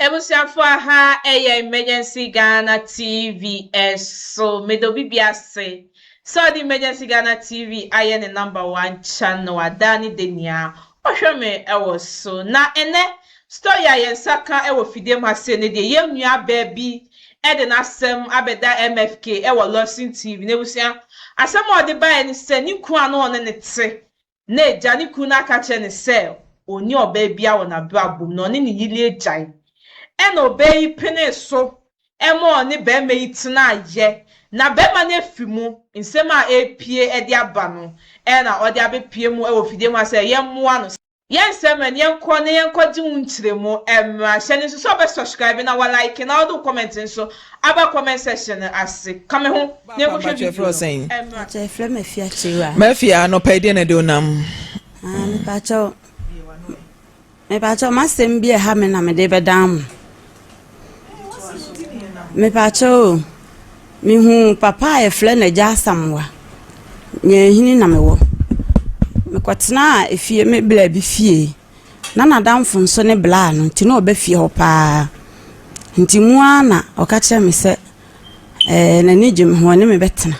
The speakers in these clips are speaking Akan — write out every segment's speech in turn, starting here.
Ebusuafo aha ɛyɛ Emergency Ghana TV ɛso meda obi bia ase sɛ ɔde Emergency Ghana TV ayɛ ne number one channel a daa ne da nyia ɔhwɛ me ɛwɔ so na ɛnɛ story a yɛn nsa ka ɛwɔ fidie mu ha sei no deɛ yɛn nua baa bi ɛde n'asɛm abɛda MFK ɛwɔ Lawson TV n'abusua asɛm a ɔde baeɛ ne sɛ ne kunu a na ɔne ne te na agya ne kunu no aka akyerɛ no sɛ onni ɔbaa biara wɔ n'abrabɔ mu na ɔne ne yere agyae. Ɛnna ɔbaa yi penee so ma ɔne barima yi tenaeɛ, na barima no afi mu. Nsɛm a ɛrepue de aba no na ɔde abɛpue mu wɔ fidie mu ha sɛ yɛmmoa no. Yɛn nsɛm no, yɛnkɔ na yɛnkɔgye wo nkyerɛmu. Ɛmmra. Hyɛ no nso sɛ wobɛsubscribe na woalike na wode wo comment nso Aba comment section no ase ka me ho na yɛnkɔ hwɛ video no ɛmra. Mpakyɛw yɛfrɛ me Afia Kyiriwaa. Mafia anɔpa yi deɛ na ɛde onam. Ah mepakyɛw mepakyɛw m'asɛm bi ɛha me na mede bɛdan mo. Mepakyɛw o mehu papa a yɛfrɛ no Agya Asamoa Nyanhini na mewɔ mekɔtenaa efie me bla bi fie. Na n'adamfo nso ne blaa no, nti na ɔba fie hɔ paa. Nti mu ara na ɔka kyerɛɛ me sɛ, ɛɛ, n'ani gye me ho, ɔne me bɛtena.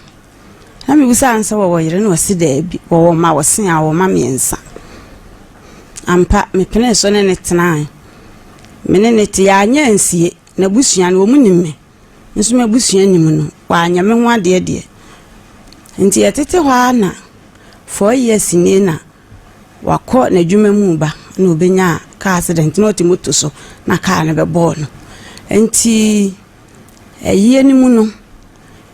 Na mebisaa no sɛ wɔwɔ yere, na ɔse daabi, wɔwɔ mma, wɔse a, wɔwɔ mma mmiɛnsa. Ampa, mepenee so ne no tenae. Me ne no te, yɛanyɛ ansie. N'abusua no, wɔn nim me. Me nso m'abusua nim no. Wɔanyɛ me ho adeɛ deɛ. Nti yɛtete hɔ ara na four years nie na. Wakɔ n'adwuma mu reba na ɔbɛnya car accident na ɔte moto so na car no bɛbɔɔ no. Nti ayie no mu no,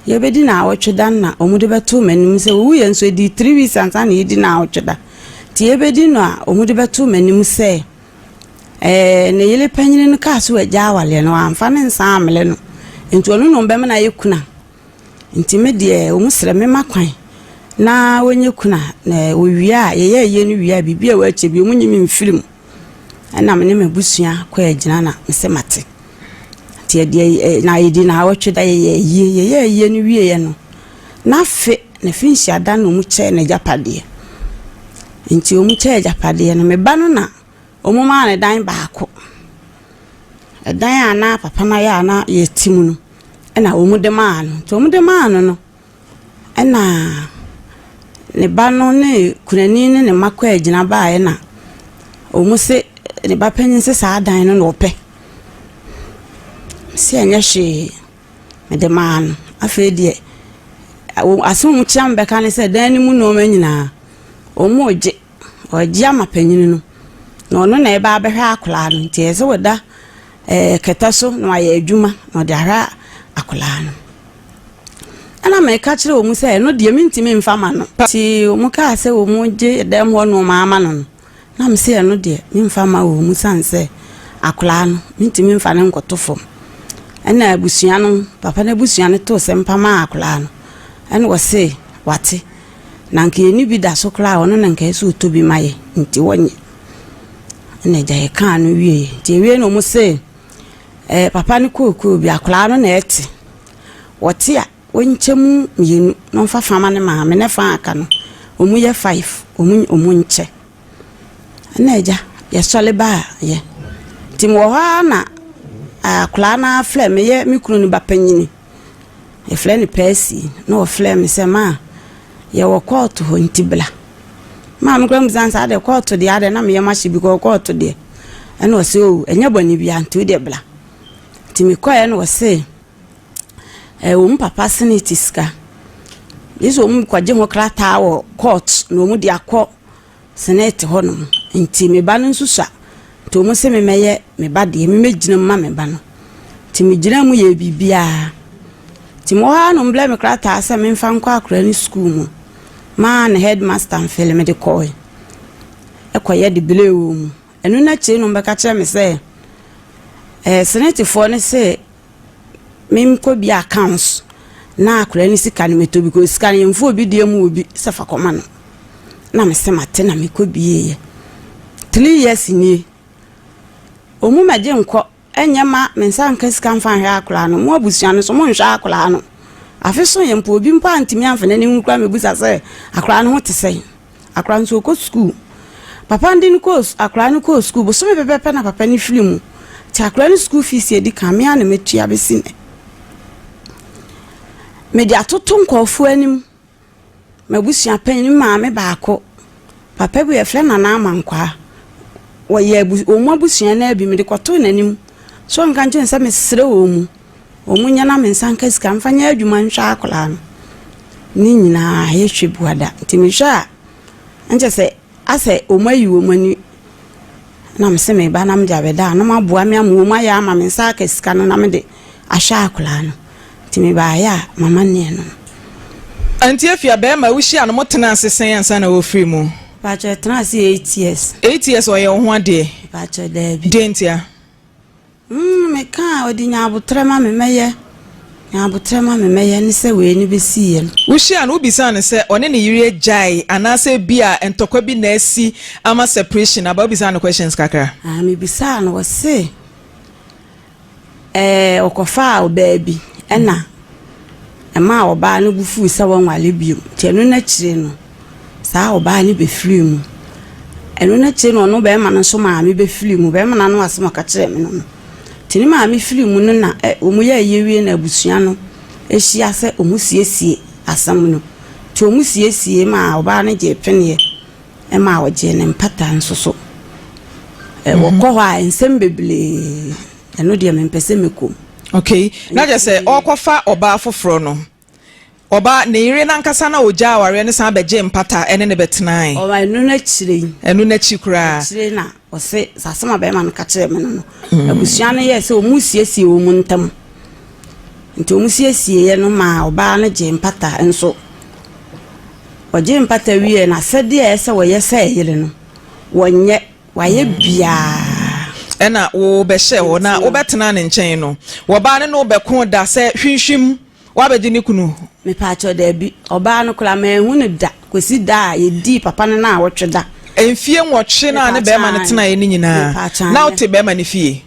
yɛbɛdi naawɔtwe da no na wɔde bɛto m'anim sɛ ɔwuiɛ nso ɛdii three weeks ansa na yɛdi naawɔtwe da. Nti yɛbɛdi no a wɔde bɛto m'anim sɛ ɛɛ ne yere panyin no kaa so agya awaleɛ no wamfa ne nsa ammele no nti ɔno na ɔbɛma no ayɛ kuna. Nti me deɛ wɔn srɛ me ma kwan na wɔnyɛ kunu a, na wɔwie a, yɛyɛ yie no wie a, biribi a ɛwɔ akyire bi, wɔnyi me mfiri mu. Ɛna me ne m'abusua kɔɔ agyina na me sɛ mate. Nti ɛdeɛ ɛ na ɛdi na awɔtwe da yɛyɛ yie, yɛyɛ yie no wieeɛ no, n'afe na fi nhyia da na wɔn kyɛɛ no agyapadeɛ. Nti wɔn kyɛɛ agyapadeɛ no, me ba no na. Wɔmaa no dan baako. Ɛdan a na papa no ayɛ a na yɛte mu no, ɛna wɔde maa no. Nti wɔde maa no no, ɛna ne ba no ne kunani ne ne mma kɔ agyina baeɛ na wɔn se ne ba panyin se saa dan no na ɔpɛ. Se ɛnyɛ hwee, mede maa no. Afei deɛ, asɛm a wɔkyia me bɛka ne sɛ dan no mu nneɛma nyinaa, wɔregye. Wɔagye ama panyin no, na ɔno na ɛba abɛhwɛ akwadaa no. Nti ɛyɛ sɛ wɔda ɛɛ eh, kɛtɛ so na wɔayɛ adwuma na ɔde ahwɛ akwadaa no. Ɛna meka kyerɛ wɔn sɛ ɛno deɛ mentumi mfa ma no. Nti wɔn kaa sɛ wɔn gye dɛm hɔ nneɛma ama no no. Na me sɛ ɛno deɛ memfa ma wɔn sane sɛ akwadaa no mentumi mfa no nkɔto fam. Ɛna abusua no, papa no abusua no too sɛ mpamaa akwadaa no. Ɛna wɔse wate. Na anka yɛnni bi da so koraa a, ɔno na anka ɛsɛ sɛ ɔtɔ bi ma yɛ, nti wɔnyɛ. Ɛna agya yɛ kaa no wieɛ. Nti awie na ɔmo se, eh, papa no kookoo bi, akwaraa no na ɛte. Wɔte a, wɔnkyɛ mu mmienu na ɔmfa fa ma ne maame, ne fa a aka no, ɔmo yɛ five, ɔmo ɔmo nkyɛ. Ɛna agya, yɛsɔre baa yɛ. Nti mewɔ hɔ ara na akwaraa no ara frɛ me yɛ me kunu no ba panyini. yɛfrɛ no Percy na ɔfrɛɛ me sɛ ma yɛwɔ kɔɔto hɔ nti bla maa me kora mu san saa deɛ kɔɔto deɛ adɛ na meyɛ mahye bi kɔɔ kɔɔto deɛ ɛna ɔsɛ o ɛnyɛ bɔne bia nti wodeɛ bla nti mekɔɛ na ɔsɛ ɛɛ wɔn papa sene ti sika yesu wɔn kɔgye ho krataa wɔ kɔɔt na wɔn de akɔ Senate hɔ nom nti me ba no nso sua nti wɔn se me mɛyɛ me ba deɛ me mɛgyina mu ma me ba no nti me gyina mu yɛɛ biribiara nti mewɔ hɔ ara nom blɛ me krataa sɛ memfa nkɔ akora ne sukuu mu maa ne headmaster mfele mede kɔɔe ɛkɔyɛ de blɛ wɔ mu Ɛno no akyire no wɔbɛka kyerɛ me sɛ ɛɛ senetefoɔ no se menkɔ bi accounts na akwadaa no sika no mɛtɔ bi kɔ sika no yɛmfa obi deɛ mu obi sɛ fa kɔma no na me sɛ mate na mekɔ bieeɛ three years nie wɔn mu mɛgye nkɔ Ɛnyɛ ma me nsa nka sika mfa nhwɛ akwadaa no. Mo abusua no nso, monhwɛ akwadaa no. Afe so yɛ mpo, obi mpo antumi amfa n'ani nhunu koraa ammɛbisa sɛ akwadaa no ho te sɛn. Akwadaa no nso, ɔkɔ sukuu. Papa no de no kɔɔ su, akwadaa no kɔɔ sukuu. Bosome pɛpɛɛpɛ na papa no firi mu. Nti akwadaa no sukuu fees a ɛdi kan, me ara na matua bɛsi nnɛ. Mede atoto nkurɔfoɔ anim. M'abusuapanyin, me maame baako, papa bi a wɔfrɛ no Nana Amankwaa, wɔyɛ abu wɔn abusua no ara bi. Mede kɔtoo n'anim sɛ ɔnka nkyerɛ me sɛ mesrɛ wɔn, wɔnyɛ na me nsa nka sika mfa nyɛ adwuma nhwɛ akwadaa no. Ne nyinaa, yɛhwɛ bua da. Nti mehwɛ a, na kyerɛ sɛ. Asɛ wɔn ayi wɔn ani na me se me ba na me de abɛda a na wɔn aboa me ama wɔn ayɛ ama me nsa aka sika no na me de ahwɛ akwadaa no nti me ba ayɛ a mama neɛ no no. Nti efi a bɛɛma wo hyia no mo tena ase sɛn ansa na wo firi mu? Mpakyɛ yɛtena ase eight years. Eight years ɔyɛ wo ho adeɛ? Mpakyɛ daabi. Deɛ ntia? Mm me ka a ɔde nya abotrɛ ma me mɛyɛ nya abotrɛ ma me mɛyɛ ne sɛ wei no bɛsiiɛ no. Wohyiaa no wobisaa no sɛ ɔne ne yere agyae anaasɛ ebia ntɔkwa bi na asi ama separation aba wobisaa no questions kakra. Ah me bisaa no ɔse ɛɛ ɔkɔfaa ɔbaa bi ɛna ɛmaa ɔbaa no bo fuu sɛ wɔnwale bio nti ɛno no akyire no. Saa ɔbaa no bɛfirii mu. Ɛno no akyire no ɔno bɛrima no nso maame bɛfirii mu. Bɛrima no ano asɛm a ɔka kyerɛɛ me no no. Nti ne maame firii mu no na ɛ wɔn yɛ ayie wie na abusua no hyia sɛ wɔn siesie asɛm no. Nti wɔn siesiee ma ɔbaa no gyee peneɛ ɛma ɔgyee ne mpata nso so. Ɛ wɔkɔ hɔ a nsɛm bebree ɛno deɛ mempɛ sɛ mɛkɔ mu. Okay na kyerɛ sɛ ɔrekɔfa ɔbaa foforɔ no. Ɔbaa, ne yere no ankasa na ɔgyaa awareɛ no san bɛgyee mpata ne no bɛtenaeɛ. Ɔbaa ɛno no akyire yi. Ɛno no akyiri koraa. Akyire na ɔse, saa asɛm a bɛrima no ka kyerɛɛ me no no, mm. abusua no yɛɛ sɛ wɔn siesie wɔn ntam. Nti wɔn siesieeɛ no maa ɔbaa no gyee mpata nso. Ɔgyee mpata wieɛ na sɛdeɛ ɛyɛ sɛ wɔyɛ sɛ ɛyere no, wɔnyɛ, wɔayɛ biara. ɛna wobɛhyɛ hɔ na wobɛtena ne nkyɛn no wɔbaa ne no bɛko da sɛ hwinhwim woabɛgye ne kunu? Mepaakyɛw, dabi. Ɔbaa no koraa, manhu no da kosi da a yedii papa no nnawɔtwe da. Mfie nwɔtwe no a ne barima no tenaeɛ no nyinaa, na wote barima no fie?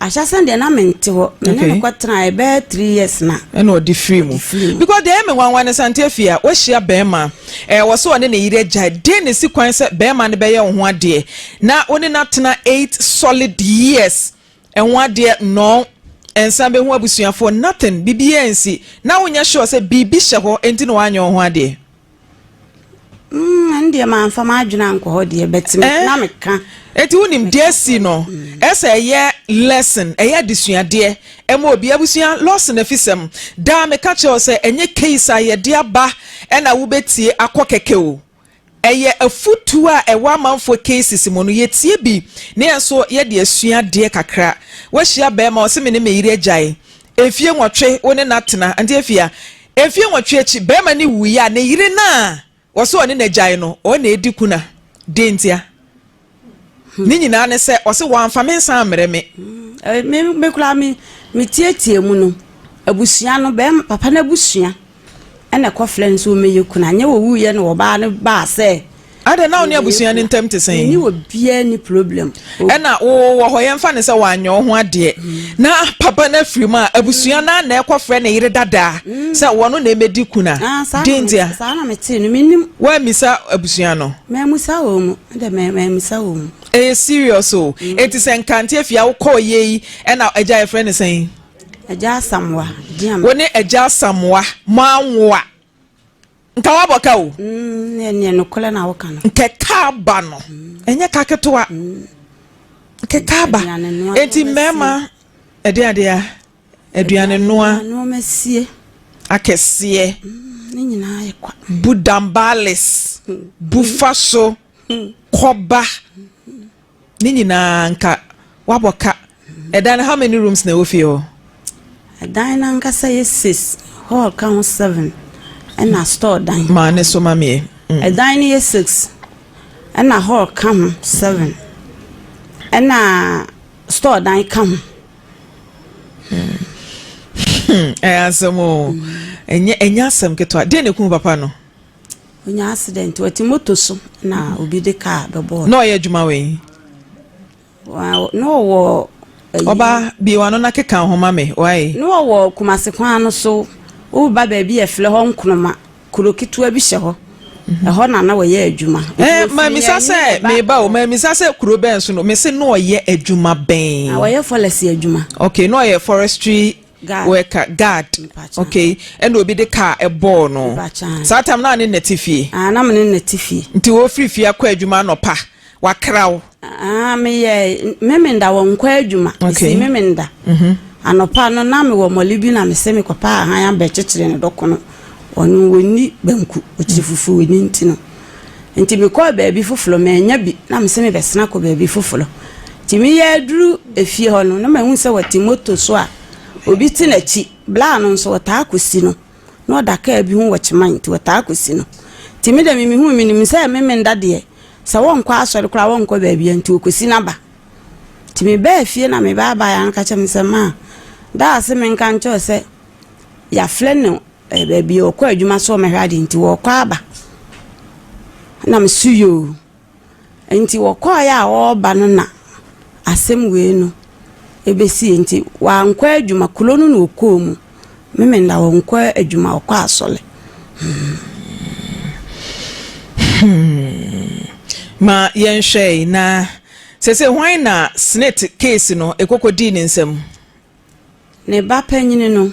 Ahyɛse no deɛ, na mente hɔ. Me ne no kɔtenae bɛyɛ three years na. Ɛna ɔde firii mu. Because deɛ ɛyɛ me nwanwa ne sɛ, Auntie Afia, woahyia barima, ɛɛ wɔ sɛ ɔne ne yere agyae, dɛn na esi kwan sɛ barima no bɛyɛ wo ho adeɛ na wo ne no atena eight solid years? Ɛho adeɛ nnɔɔn nsa bɛhu abusuafoɔ nothing bibiaa nsi na wonyɛ sure sɛ biribi hyɛ hɔ nti na wanyɛ wo ho adeɛ. Mm ɛno deɛ manfa m'adwene ankɔ hɔ deɛ but me na meka. Enti wonim deɛ asi no ɛsɛ ɛyɛ lesson ɛyɛ adesuadeɛ ɛma obi abusua loss no afisɛm daa meka kyerɛ wo sɛ ɛnyɛ case a yɛde aba ɛna wobɛtie akɔ kɛkɛ o. Ɛyɛ afotuo a ɛwɔ amanfoɔ cases mu no yɛtie bi na yɛn nso yɛde asua adeɛ kakra. Woahyia barima ɔse me ne me yere agyae mfie nwɔtwe wo ne no atena nte afie a mfie nwɔtwe akyi barima no wuiɛ a ne yere no a ɔse ɔne no agyae no ɔna ɛdi kuna dɛn ntia? Ne nyinaa ne sɛ, ɔse wɔamfa me nsa ammrɛ me. Me me koraa me me tietie mu no, abusua no, bɛrima papa no abusua ɛna ɛkɔfrɛ no sɛ ɔmmɛyɛ kunu. Anyɛ wɔwuiɛ na ɔbaa no baa sɛ Adɛn na wo ne abusua no ntam te sɛn? Menni wɔ biara ni problem. Ɛna wo wɔ hɔ yɛmfa no sɛ wanyɛ wo ho adeɛ na papa no afiri mu a, abusua no a na ɛkɔfrɛ ne yere dadaa sɛ wɔno na ɛmɛdi kunu a, Ah, saa na deɛ me- ntia saa na metee no mennim woammisa abusua no? mammusa wɔ mu Me de me me nsa wɔ mu. Ɛyɛ serious o. Enti sɛ Nkanteɛ fie a wokɔɔ yɛ yi ɛna agya yɛfrɛ no sɛn? Agya Asamoa din a me. Wo ne agya Asamoa mo anwo a nka woabɔ ka o. Mm, ɛneɛ nokorɛ na woka no. Nkekaaba no ɛnyɛ ka ketewa. Nkekaaba. Aduane noa. Enti mmarima ɛdeɛ adeɛ a. Aduanenoa akɛseɛ bu dambaales, bu fa so, kɔba, ne nyinaa nka wabɔ ka. Ɛdan no how many rooms na ɛwɔ fie hɔ? Ɛdan no ankasa yɛ six, hall ka ho seven, ɛna store dan. Maa ne so ma mie. Mm. Ɛdan no yɛ six, ɛna hall ka ho seven, ɛna store dan ka ho. ɛyɛ asɛm o ɛnyɛ ɛnyɛ asɛm ketewa deɛ na ekun papa no. onye accident wɔte moto so na obi de kaa bɛbɔɔ. na ɔyɛ adwuma wɔ yi. na ɔwɔ. ɔba bie wa no na keka ho ma me wae. na ɔwɔ kumase kwan no so woba baabi yɛ filɛ hɔ nkonoma Kuro ketewa bi hyɛ hɔ. Ɛhɔ na na wɔyɛ adwuma. Ɛɛ, mamisa sɛ meba o, mamisa sɛ kuro bɛn so no, mese na ɔyɛ adwuma bɛn? Na ɔyɛ fɔlɛsi adwuma. Okay, na ɔyɛ forestry worker, guard. Okay, ɛna obi de kaa ɛbɔɔ no. Saa tam na ne nnɛte fie? Aa, na me ne nnɛte fie. Nti wɔfiri fie akɔ adwuma anɔpa? Wakra wo? Ah, meyɛ Memenda wɔ nkwa adwuma. Okay. Mesi Memenda. Mhm. Anɔpa no na mewɔ mɔle bi na mese mekɔpɛ ahan abɛkyekyere ne dɔko no. Ɔno wɔnni banku, ɔkyiri fufuo ni nti no. Nti mekɔɔ baabi foforo, mannya bi na mese mebɛsena akɔ baabi foforo. Nti meyɛ aduru efie hɔ no na mahu sɛ wɔte moto so a obi te n'akyi. Bla no nso wɔtaa kɔsi no. na ɔda kaa bi ho wɔ Kyeman nti wɔtaa kɔsi no. Nti me deɛ memehu menim sɛ me Menda deɛ sɛ wɔnkɔ asɔre koraa wɔnkɔ baabi nti wɔkɔsi no aba. Nti mebaa fie na mebaa baeɛ ano ka kyerɛ me sɛ maa daa se menka nkyɛw sɛ yɛafrɛ no eh, baabi ɔkɔ adwuma so ɔmɛhwɛ adeɛ nti wɔkɔ aba. Na mesu yoo. Enti wɔkɔeɛ a wɔreba no na asɛm wei no bɛsiiɛ. Enti wɔankɔ adwuma, kuro no na wɔkɔɔ mu. Memenda wɔnkɔ adwuma, wɔkɔ asɔre. Ma yɛnhwɛ, na seesei hwan na Snate keesi no kɔkɔdii ne nsam? Ne ba panyin no,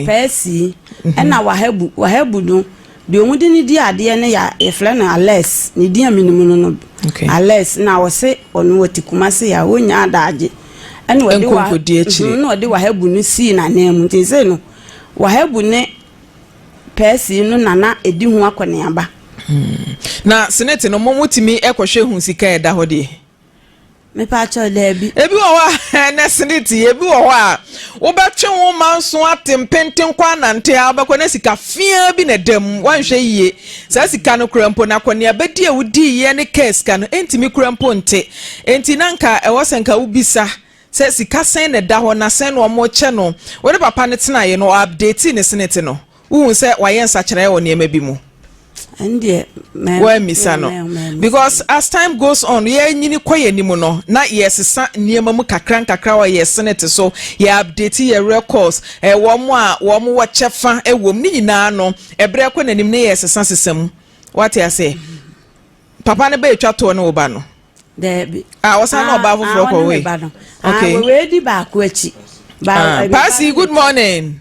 Percy, ɛna Wahabu. Wahabu no, deɛ wɔn de no di adeɛ no yɛ yɛfrɛ no Alex. Ne din a menim no no, Alex. Na ɔse ɔno wɔte Kumasi a ɔnya adagye. Ɛna ɔde wa mhm, na ɔde Wahabu no sii n'anan mu. Nti sei no, Wahabu ne Percy no na na ɛdi ho akɔneaba. Hmm. Na senate no, mo motumi kɔhwɛ hu sika a ɛda hɔ deɛ? Mepatwɔ daabi. Ebi wɔ hɔ a ɛnɛ sini ti, ebi wɔ hɔ a wobɛtwe wo ma nso ate mpenten kɔ anante a wobɛkɔ na sika fiaa bi na ɛda mu. Woanhwɛ yie. Saa sika no kura mpo no akɔneabadi a wodiiɛ ne kaa sika no ɛntumi kura mpo nte. Enti na nka ɛwɔ sɛ nka wobisa sɛ sika sɛn na ɛda hɔ na sɛn na wɔkyɛ no. Wo ne papa no tenaeɛ no ɔ update ne sini ti no? wohu sɛ wayɛ nsakyeraeɛ wɔ nneɛma bi mu wɔammisa no because as time goes on yɛnyini kɔ yɛn anim no na yɛsesa nneɛma mu kakra nkakra wɔ yɛ senate so yɛ update yɛ records eh, wɔn a wɔn wɔ kyɛfa eh, wɔ mu ne nyinaa no ɛbrɛ eh, kɔ n'anim ne yɛsesa sesa mu wate ase papa no bɛyɛ twa toɔ ne wo ba no dɛbi a ah, wɔsan na ɔbaa foforɔ ah, kɔ wei ah, okay wei di baako akyi. Paasi good morning.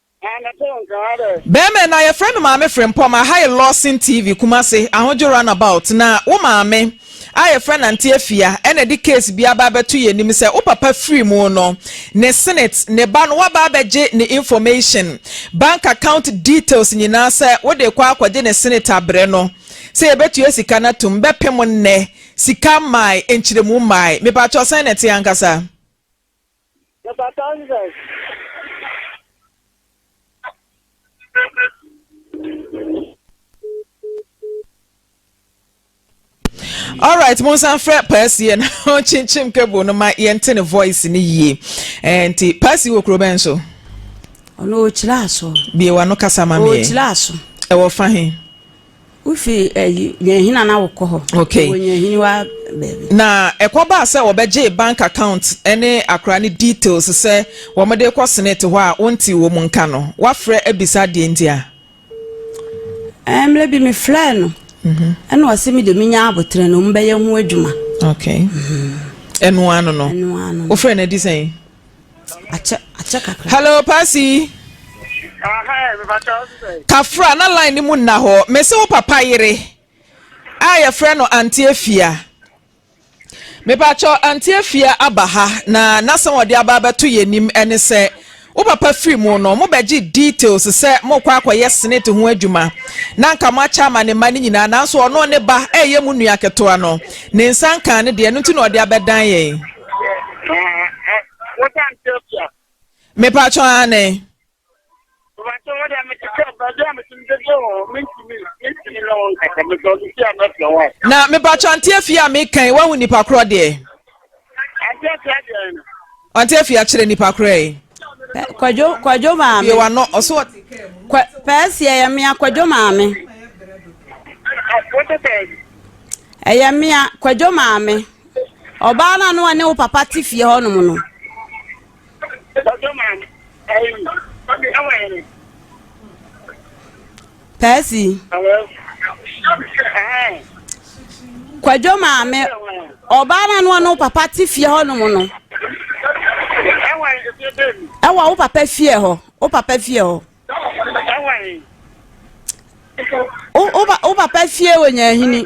Bɛɛma no a yɛfrɛ no Maame Frempɔm a ha yɛ Lawson TV Kumasi Ahodwo Runabout na wo maame a yɛfrɛ no Ante Afia na ɛde case bi aba abɛto yɛn anim sɛ wo papa firi mu no ne Senate ne ba no waba abɛgye ne information bank account details nyinaa sɛ wode rekɔ akɔgye ne Senate abrɛ no sɛ yɛbɛtua sika no atom bɛpem nnɛ sika mmae nkyerɛmu mmae mepakyɛw sɛn na ɛte ankasa Meba Kansas. All right, mo nsan frɛ Percy yɛn ɔkyinkyim cable no ma yɛnte ne voice ne yie. Eh, nti Percy wɔ kuro bɛn so? Ɔno ɔkyerɛ aso. Bie wa no kasa ma mi yɛ. Ɔkyerɛ aso. Ɛwɔ fa he? Wofi ɛyi Nyɛnhina na wokɔ hɔ. Okay. Wɔ Nyɛnhini wa baabi. Na ɛkɔ baa sɛ wɔbɛgyee bank account ne akora ne details sɛ wɔde kɔ senate hɔ a wonte wɔn nka no. Wafrɛ abisa deɛ nti a? Ɛɛ mmerɛ bi me frɛɛ no. Mhm. Ɛna ɔse me de me nya abotere no wɔn bɛyɛ ho adwuma. Okay. Mhm. Ɛnoa no no. Ɛnoa no. Wofrɛ no adi sɛn? akyɛ akyɛ kakra. hello pasi. kafra na line no mu nna hɔ mese wo papa yere a yɛfrɛ no ante afia mepakyɛ ante afia aba ha na n'asɛm ɔde aba abɛto yɛn anim ɛne sɛ wo papa firi mu no mobɛgye details sɛ mokɔ akɔyɛ senate ho adwuma na nka moakyɛ ama ne mma no nyinaa nanso ɔno ne ba ɛyɛ mu nua ketewa no ne nsa nka ne deɛ no nti na ɔde abɛdan yɛn mepatwɔ ane na mepatwɔ anteɛ fie a mekan woahu nnipa korɔ deɛ anteɛ fie akyerɛ nnipa korɔ yi kwadwo kwadwo maame yɛ wano ɔso pɛɛsiɛ yɛ mmea kwadwo maame ɛyɛ mmea kwadwo maame Ɔbaa no a na ɔne wo papa te fie hɔnom no. Pɛɛsi. Kwadwo maame, ɔbaa no a na ɔne wo papa te fie hɔnom no. Ɛwɔ wo papa fie hɔ, wo papa fie hɔ. Wo papa fie wɔ Nyahini.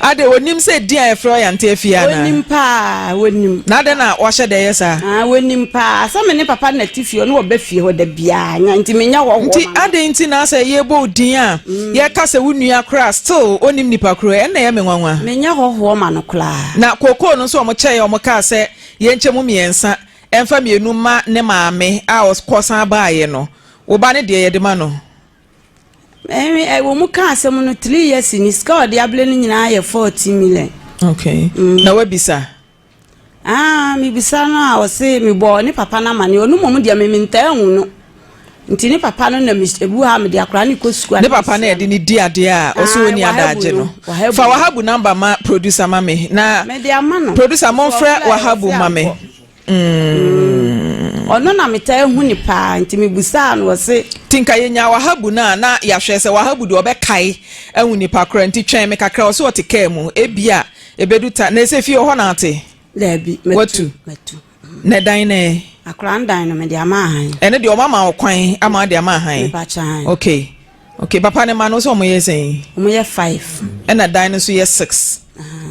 ade onim sɛ din a yɛfrɛ ɔyante afie ana onim paa onim na adɛn na wahyɛ dɛ yɛ saa ah onim paa sɛ me ne papa na te fie ɔno ɔbɛ fie hɔ da biara nya nti menya hɔ hɔ nti adɛn nti na sɛ yɛbɔ wo din a mm. yɛka sɛ wo nua koraa still onim nipa koro ɛnna ɛyɛ me nwanwa menya hɔ hɔ ma no koraa na kookoo no nso ɔmo kyɛe ɔmo kaa sɛ yɛnkyɛ mu mmiɛnsa ɛmfa mmienu ma ne maame a ɔkɔsan baayɛ no Wo ba no deɛ yɛde ma no. Ɛɛ ɛwɔ mu ka asɛm no three years ni sika a ɔde abere no nyinaa yɛ forty million. Okay. Mm. Na wabisa. Ah, mebisa no a ɔse mebɔ ne papa no amane ɔno mmom deɛ me mentaa hu no nti ne papa no na ebu ha mede akora ne kɔ sukuu ne papa no ɛde ne di adeɛ a ah, ɔsɛ ɔni adaagye no fa wahabu namba ma producer ma me na producer momfrɛ wahabu ma me Mm. ɔno na metaa hu ne paa nti mebusaa no ɔse nti nka yɛnya wahabu no a na yɛahwɛ sɛ wahabu deɛ ɔbɛkae ahu nipa kora nti twɛn me kakra ɔse ɔte kaa mu ebi a ɛbɛdu ta na ɛsɛ fie hɔ na ate daabi matu na dan no ɛ akora ndan no mede ama ahan ɛno deɛ ɔma ma ɔkwan ama de ama ahan okay ok papa ne ma no sɛ ɔmo yɛ sɛn. ɔmo yɛ five. ɛna dan no nso yɛ six.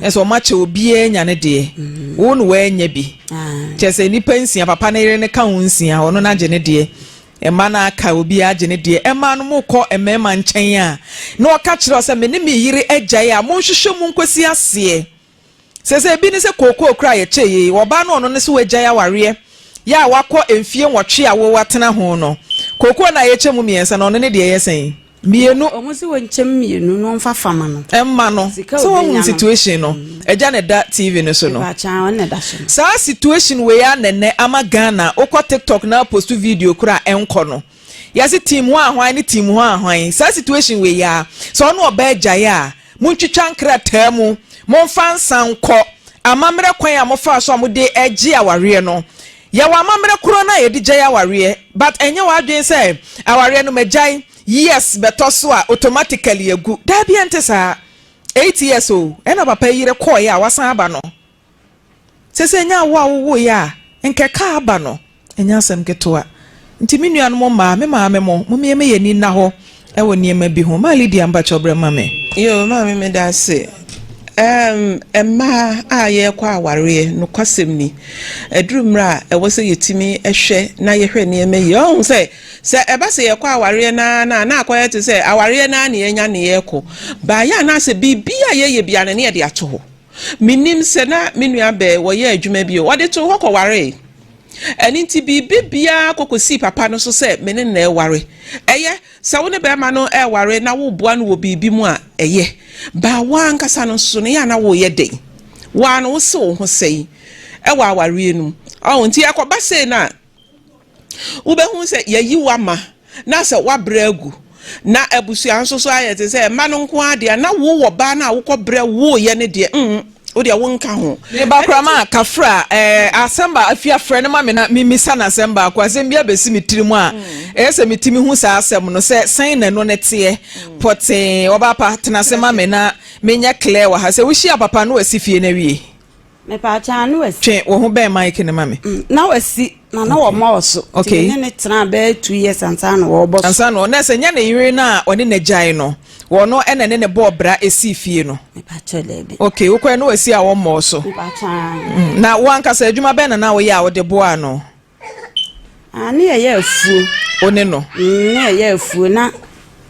ɛsɛ ɔmo akyɛ obiara nya ne deɛ. Mm-hmm. wo na wɔanya bi. kyɛ sɛ nipa nsia papa ne yere ne ka ho nsia ɔno na agye ne deɛ. mma no aka obiara agye ne deɛ ɛma no mo kɔ mmarima nkyɛn a na ɔka kyerɛ sɛ me ne me yere agyae a monhwehwɛ mu nkosi aseɛ. Sese ebi ne sɛ kookoo koraa yɛkyɛ yie wɔ ɔbaa no ɔno ne sɛ wagyae awareɛ yɛ a wakɔ mfie nwɔtwe a wo atena ho no kookoo no a yɛkyɛ mu mmiɛnsa no ɔno ne deɛ ɛyɛ sɛn? Mmienu. Ɔmo se wɔnkyɛ mu mmienu na ɔmfa fa ma no. Mma no. Sika a Sɛ wahunu ɔbɛnya no. situation no agya na ɛda TV no so no. Ɛba akya ɔno na ɛda so no. Saa situation wei ara na ɛnnɛ ama Ghana wokɔ TikTok na apost video koraa a ɛnkɔ no. yɛse team hɔ a hwan ne team hɔ a hwan saa situation wei yi aa sɛ ɔne ɔbaa agyae a montwitwa nkrataa mu momfa nsa nkɔ amamerɛ kwan a mofaa so a mode gye awareɛ no yɛwɔ amamerɛ korɔ no a yɛde gyae awareɛ but ɛnyɛ w'adwene sɛ awareɛ no magyae years bɛtɔ so a automatically agu daabi ɛnte saa eight years o ɛna papa yi yere kɔɔeɛ a wasan aba no Sese ɛnyɛ awo a wowoeɛ a nkɛka aba no, ɛnyɛ asɛm ketewa. Nti me nuanom mmaa, me maame mo, mommie me yɛn ani nna hɔ wɔ nneɛma bi ho. Maa Lydia mpakyɛw brɛ ma me. Yoo maame meda ase. Erm mmaa a yɛrekɔ awareɛ, nokwasɛm ni, ɛduru mmerɛ a ɛwɔ sɛ yɛtumi hwɛ na yɛhwɛ nneɛma yie. Ɔhu sɛ, sɛ ɛba sɛ yɛkɔ awareɛ no ara no a, na akɔyɛ te sɛ awareɛ no ara ne yɛanya ne yɛrekɔ. Baayɛ a na asɛ biribi a yɛyɛ biara no na yɛde ato hɔ. Minnim sɛ na me nua bɛn wɔyɛɛ adwuma bio. Wɔde too hɔ kɔwaree. Ɛno nti biribi biara kɔ kɔsii papa no so sɛ me ne no reware. Ɛyɛ, sɛ wo ne barima no reware na woreboa no wɔ biribi mu a, ɛyɛ. Baa wo ara ankasa no nso no, yɛ a na woreyɛ dɛn? Wo ara no wose wo ho sɛn wɔ awareɛ no mu. Ɔho nti ɛkɔba sei no a. Wobɛhu sɛ yɛayi wo ama na sɛ woabrɛ agu, na abusua nso so ayɛ te sɛ mma no nko ara dea, na wo wɔ baa no a wokɔbrɛ woeɛ no deɛ, mm, wo deɛ wonka ho. Me ba koraa ma kafra eh, asɛm ba afie a frɛ no ma me na memmisa no asɛm baako, asɛm biara bɛsi me tirim a ɛyɛ sɛ metumi hu saa asɛm no sɛ sɛn na ɛno no teɛ pɔtee. Ɔbaa pa, tena ase ma me na menyɛ clear wɔ ha, sɛ wohyia papa no wɔ asi fie no awie. Mepaakyɛw na wasi. Twe wo ho bɛn mic no ma me. Mm, na wasi na na wɔn mɔ so. Okay. Ti ne ne tena bɛyɛ two years ansa na wɔbɔ so. Ansa na na sɛ nya ne yere na ɔne ne gyae no, wɔn no ɛna ne ne bɔɔ bra esi fie no. Mepaakyɛw dɛbi. Okay, wokɔɛ na wasi a wɔn mɔ so. Mepaakyɛw. Mm, na wankasa adwuma bɛn na na woyɛ a wode boa no? Ah, ne yɛyɛ afuo. O ne no. Mm, ne yɛyɛ afuo na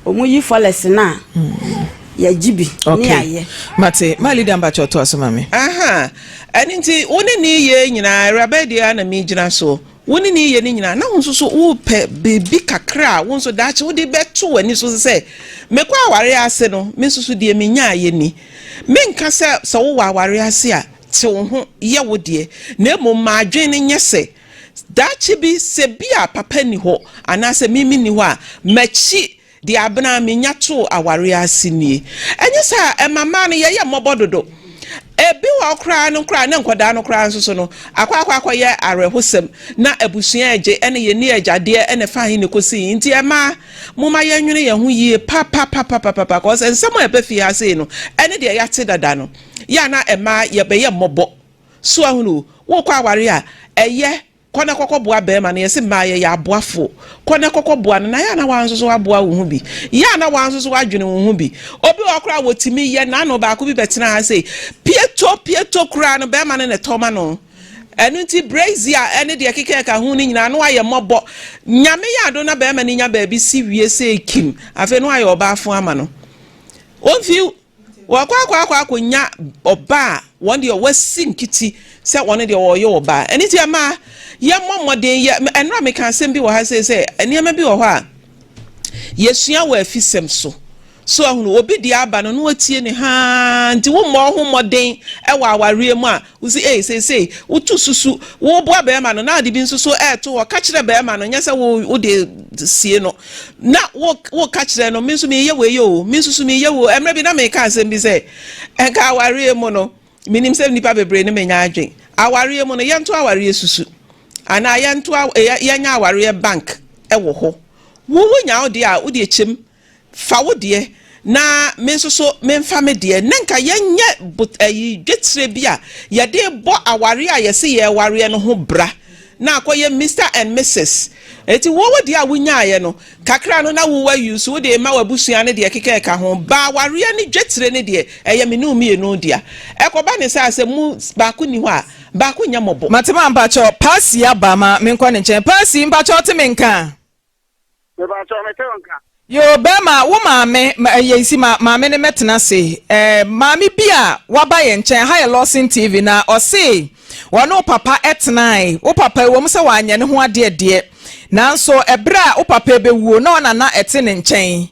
wɔn yi fɔlɛs no a. Mm. yɛgye bi ne yɛayɛ mate ma leader mpakyɛ ɔto aso ma me aha ɛno nti wo ne ne yɛ nyinaa awuraba deɛ na megyina so wo ne ne yɛ no nyinaa na wo nso so wopɛ biribi kakra a wo nso daakye wode bɛto w'ani so sɛ mekɔ aware ase no me nso so deɛ menyaayɛ ni menka sɛ sɛ wowɔ aware ase a Te wo ho, yɛ wo deɛ, na mmom ma adwene no nyɛ sɛ, Daakye bi, sɛ ebia papa nni hɔ anaasɛ me menni hɔ a, m'akyi deɛ abena a menya too awareɛ ase nie. Ɛnyɛ saa a, ɛma mmaa no yɛyɛ mmɔbɔ dodo. Ebi wɔ hɔ koraa no koraa ne nkwadaa no koraa nso so no, akɔ akɔ akɔyɛ awerɛhosɛm na abusua regye ne yɛn ne agyadeɛ na ɛfa he na ɛkɔsi he. Nti mmaa, momma yɛnnwene yɛn ho yie papapapapapa, cause nsɛm a ɛba fie ha sei no, ɛne deɛ yɛate dada no. yɛ a na mmaa yɛbɛyɛ mmɔbɔ so ahunu wokɔ aware a ɛyɛ kɔ na kɔkɔ boa bɛrima no yɛsi mmaa yɛyɛ aboafo kɔ na kɔkɔ boa no na yɛ a na wɔn nso so aboa wo ho bi yɛ a na wɔn nso so adwene wo ho bi obi wɔ koraa wɔtumi yɛ n'ano baako bi bɛtena ha sɛ pieto pieto koraa no bɛrima no na ɛtɔ ma no ɛno nti braizi a ɛne deɛ kekɛ ka ho no nyinaa no ayɛ mmɔbɔ nyame yɛ ado na bɛrima no nya baabi si wie sɛ kim afei no ayɛ ɔbaafo ama no wɔmfi Wɔakɔ akɔ akɔ akɔnya ɔba a wɔn deɛ wɔasi nkiti sɛ wɔn deɛ wɔreyɛ ɔba. Ɛno nti ɛma yɛmmɔ mmɔden yɛ. Ɛnora meka asɛm bi wɔ ha sei sɛ nneɛma bi wɔ hɔ a yɛsua wɔ afisɛm so. So ahunu obi deɛ aba no na watie ne haa nti wommɔ wo ho mmɔden wɔ awareɛ mu a Wo se, Ei, seesei woto susu woreboa barima no na ade bi nso so reto hɔ. Ka kyerɛ barima no, nyɛ sɛ wo wode sie no na woreka kyerɛ no, me nso mereyɛ wei oo, me nso so mereyɛ wei oo. Mmerɛ bi na mereka asɛm bi sɛ, ɛnka awareɛ mu no, menim sɛ nnipa bebree ne menya adwene, awareɛ mu no yɛnto awareɛ susu anaa yɛnto, yɛnyɛ awareɛ bank wɔ hɔ. Wo wonya wo deɛ a, wode kyɛm. Fa wo deɛ, na me nso so memfa me deɛ. Nnɛ nka yɛnyɛ bot ɛyi dwetire bi a yɛde rebɔ awareɛ a yɛse yɛrewareɛ no ho bra na akɔyɛ Mister and Missus. Enti wo wo deɛ a wonyaaeɛ no, kakra no na wo wa use, wode rema w'abusua ne deɛ ɛkeka ɛka ho. Ba awareɛ ne dwetire no deɛ, ɛyɛ me ne wo mmienu dea. Ɛkɔba ne saa a, sɛ mo baako nni hɔ a, baako nyɛ mmɔbɔ. Mate ma mpakyɛw, Paasii aba ma menkɔ ne nkyɛn. Paasii, mpakyɛw te me nka a. Yoo bɛɛma wo maame yɛn si ma maame ne mɛtena ase ɛɛ maame bi a waba yɛn nkyɛn ha yɛ lɔsin tv na ɔse wɔne wo papa ɛtenae wo papa ɛwɔ mu sɛ wanyɛ ne ho adeɛ deɛ nanso ɛberɛ a wo papa ɛbɛwuo na ɔna na ɛte ne nkyɛn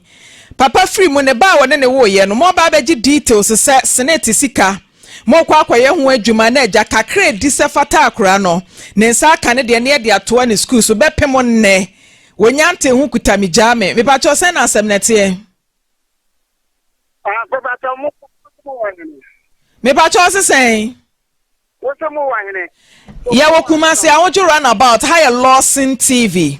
papa firi mu ne ba a wɔne ne woyɛ no mo aba abɛgye details sɛ senate sika Morekɔ akɔyɛ ho adwuma na agya kakra a ɛdi sɛ fata akora no, ne nsa aka ne deɛ na yɛde atoa ne sukuu so, bɛpem nnɛ. Wɔnya ntee ho kuta me gyaa me. Mepakyɛw, sɛn na asɛm no teɛ? Ah, mepakyɛw, mo mo wɔ hene? Mepakyɛw, ɔse sɛn? Wose mo wɔ hene? Yɛwɔ Kumasi, Awodwo runabout, ha yɛ Lawson TV.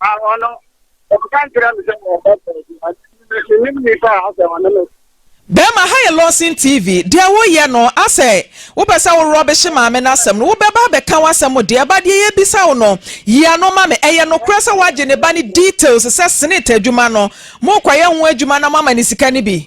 A Ɔno, ɔkɔka nkyerɛɛ me sɛ ɔreba baabi, ante me na mennim nnipa a asɛ ɔne me. Bɛɛma ha yɛ lɔsen TV deɛ wo yɛ no asɛ wo pɛ sɛ wo rɔbehye maame no asɛm no wo bɛba abɛka wasɛm mo deɛ ba deɛ yɛ bisa wo no yi ano ma me ɛyɛ nokorɛ sɛ wagye ne ba no details sɛ senate adwuma no mo rekɔyɛ ho adwuma na mo ama no sika no bi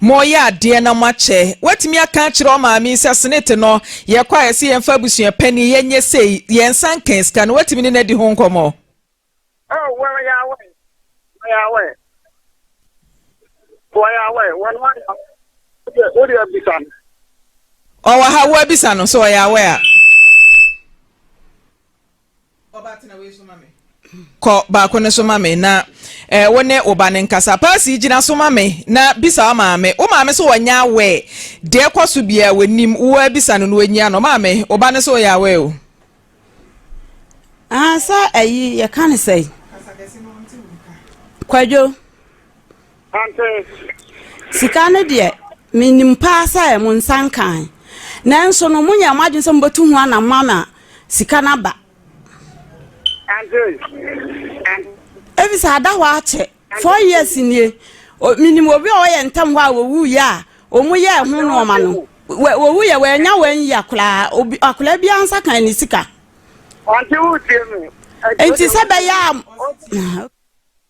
Moreyɛ adeɛ na moakyɛ. Woatumi aka akyerɛ ɔmaame yi sɛ senate no yɛkɔ a yɛse yɛmfa abusua panin yɛnyɛ sei, yɛnsa nkan sika no, woatumi ne no adi ho nkɔmmɔ? Oh well ya wɛ na ya wɛ wɔ ya wɛ wɔ no ana wode wode abisa no. Ɔwɔ ha wo abisa no sɛ ɔyɛ awɛ a. Kɔ baako no so ma me na eh, wo ne wo ba no nkasa. Paasi, gyina so ma me na bisa wo maame. Wo maame so wɔnyɛ aware. Deɛ ɛkɔ so biara wɔnim. Wo ara bisa no na wɔnyia no. Maame, wo ba no so wɔyɛ aware o. Ah, sɛ ayi yɛka no sɛ. Kwadwo. Sika no deɛ, menim paa sɛ mo nsa nkae. Nanso no, monyɛɛ mo adwene sɛ mobɛtu ho anamɔ ama sika no aba. Efisɛ ada hɔ ara kyɛ, four years nie, menim obi a ɔyɛ ntɛm hɔ a wɔwuiɛ a wɔyɛɛ ho nnoɔma no, wɔwuiɛ, wɔannya one year koraa, akwadaa biara nsa kae ne sika. Enti sɛ bɛyɛ a.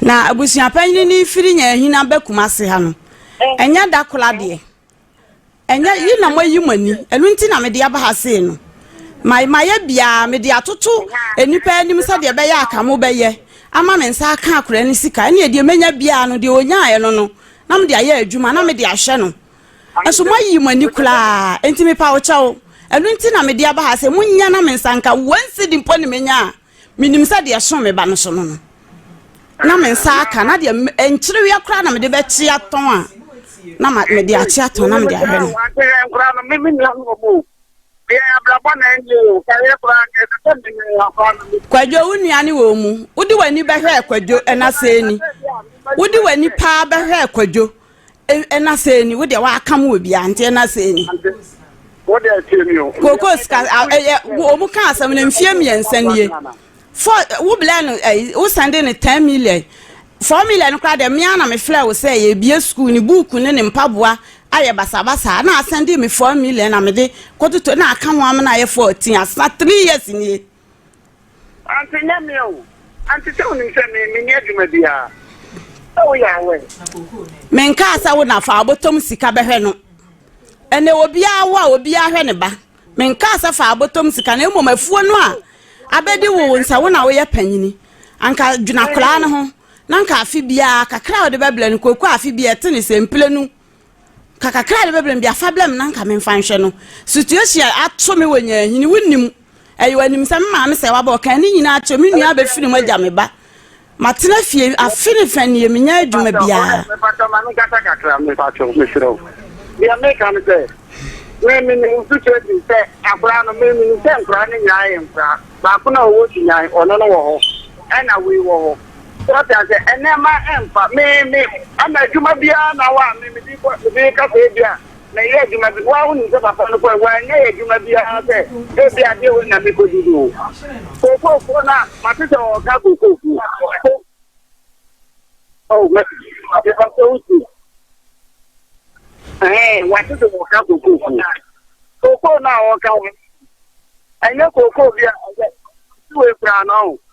Na abusua panyin no firi Nyahina ba Kumase ha no, ɛnyɛ da kola deɛ. Ɛnyɛ yi na moayi mo ani, ɛno nti na mede aba ha sei no. Ma mayɛ biara mede atoto nnipa anim sɛdeɛ ɛbɛyɛ aka mo bɛyɛ ama me nsa aka akora no sika. Ɛneɛ deɛ mɛnya biara no deɛ ɔnyaeɛ no no na mede ayɛ adwuma na mede ahwɛ no. Ɛso moayi mo ani koraa, nti mepa wo kyɛw. Ɛno nti na mede aba ha sɛ monyɛ na me nsa nka one cedi mpo ne menya a. Menim sɛ deɛ ɛso me ba no so no no, na me nsa aka, na deɛ nkyerewea koraa na mede bɛkye atɔn a, na mede akye atɔn na mede ahwɛ no. Wɔakyerɛ nkora no, me me nua no wɔ mu o. Deɛ abrabɔ na ɛnyɛ o, kayɛ koraa nka ɛsɛ sɛ me ne afa no me. Kwadwo, wo nua ne wɔ mu. Wode w'ani bɛhwɛɛ Kwadwo, ɛna sɛɛ ni. Wode w'ani paa bɛhwɛɛ Kwadwo, ɛna sɛ ni wo deɛ w'aka mu wɔ bia nti ɛna sɛ ni wo deɛ tie mi o koko sika ɛyɛ wɔn ka asɛm no mfie mmiɛnsa nie fɔ wo blɛ no ɛyi wo sɛnde no ten million four million no koraa deɛ mmea na mefrɛ wo sɛ yɛbie sukuu ne buuku ne ne mpaboa ayɛ basabasa na asɛnde me four million na mede kɔtoto na aka ho amena ayɛ fourteen asena three years nie Ante nyɛ me o. Ante sɛ wonim sɛ me menni adwuma biara sɛ woyɛ aware. Menkaa sɛ wo na fa abɔtɔm sika bɛhwɛ no. Ɛnɛ obiara wo a obiara hwɛ ne ba. Menkaa sɛ fa abɔtɔm sika na mmom afuo no a abɛdi wo wo nsa wo na woyɛ panyini. Anka dwena koraa no ho na anka afe biara kakra a wode bɛbrɛ no kooko afe biara ɛte ne sɛ mprenu. Ka kakra a me bɛbrɛ no bia fa brɛ me na nka me nfa nhwɛ no situation ato me wɔ nyahini wo nim ɛyɛ wanim sɛ me maame sɛ wabɔ kan ne nyinaa kyɛ me nua abɛfiri mu agya me ba matena fie afe ne fɛ neɛ menya adwuma biara mepatɔ ma me nkasa kakra mepatɔ mesrɛ wo deɛ meka no sɛ me me ne nsu kyerɛ ti sɛ akora no me me sɛ nkora ne nyinaa yɛ nkora baako na ɔwɔ dunyan ɔno no wɔ hɔ ɛna wei wɔ hɔ Wate aseɛ nneɛma mfa me me ɛna adwuma biara na wa me mede kɔ mede ka sɛ ebi a mɛyɛ adwuma bi wa wonim sɛ papa no kɔ wanyɛ yɛ adwuma biara sɛ ebi adeɛ wɔ na mekɔdi no kokokuo na mate sɛ ɔka kokokuo oh mɛte sɛ wosi ɛɛ wate sɛ ɔka kokokuo koko na ɔka ho ɛnyɛ koko bi a ɛyɛ siwe koraa no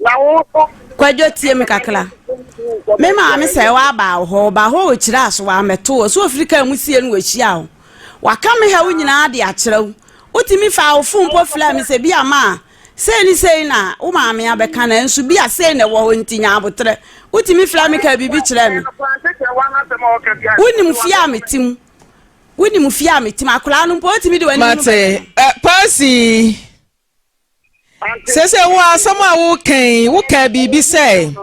Na wo nso. Kwadwo tie me kakra. Me maame sɛ waba wo hɔ, ɔba hɔ ɔkyerɛ aso wamɛto wɔ so ɔfiri kaa mu sie no wɔhyia wo. Waka me ha wo nyinaa de akyerɛ wo. Wotumi fa wo fon mpo frɛ me sɛ bi a ma a sei ne sei na wo maame abɛka nanso bi a sei na ɛwɔ hɔ nti nya aboterɛ. Wotumi frɛ me ka biribi kyerɛ me. Wonim fie a mete mu. Wonim fie a mete mu. Akwadaa no mpo wotumi de w'anim no bɛka. Mate, eh, Percy. Seesei wo asɛm a woka yi, wokaa biribi sɛ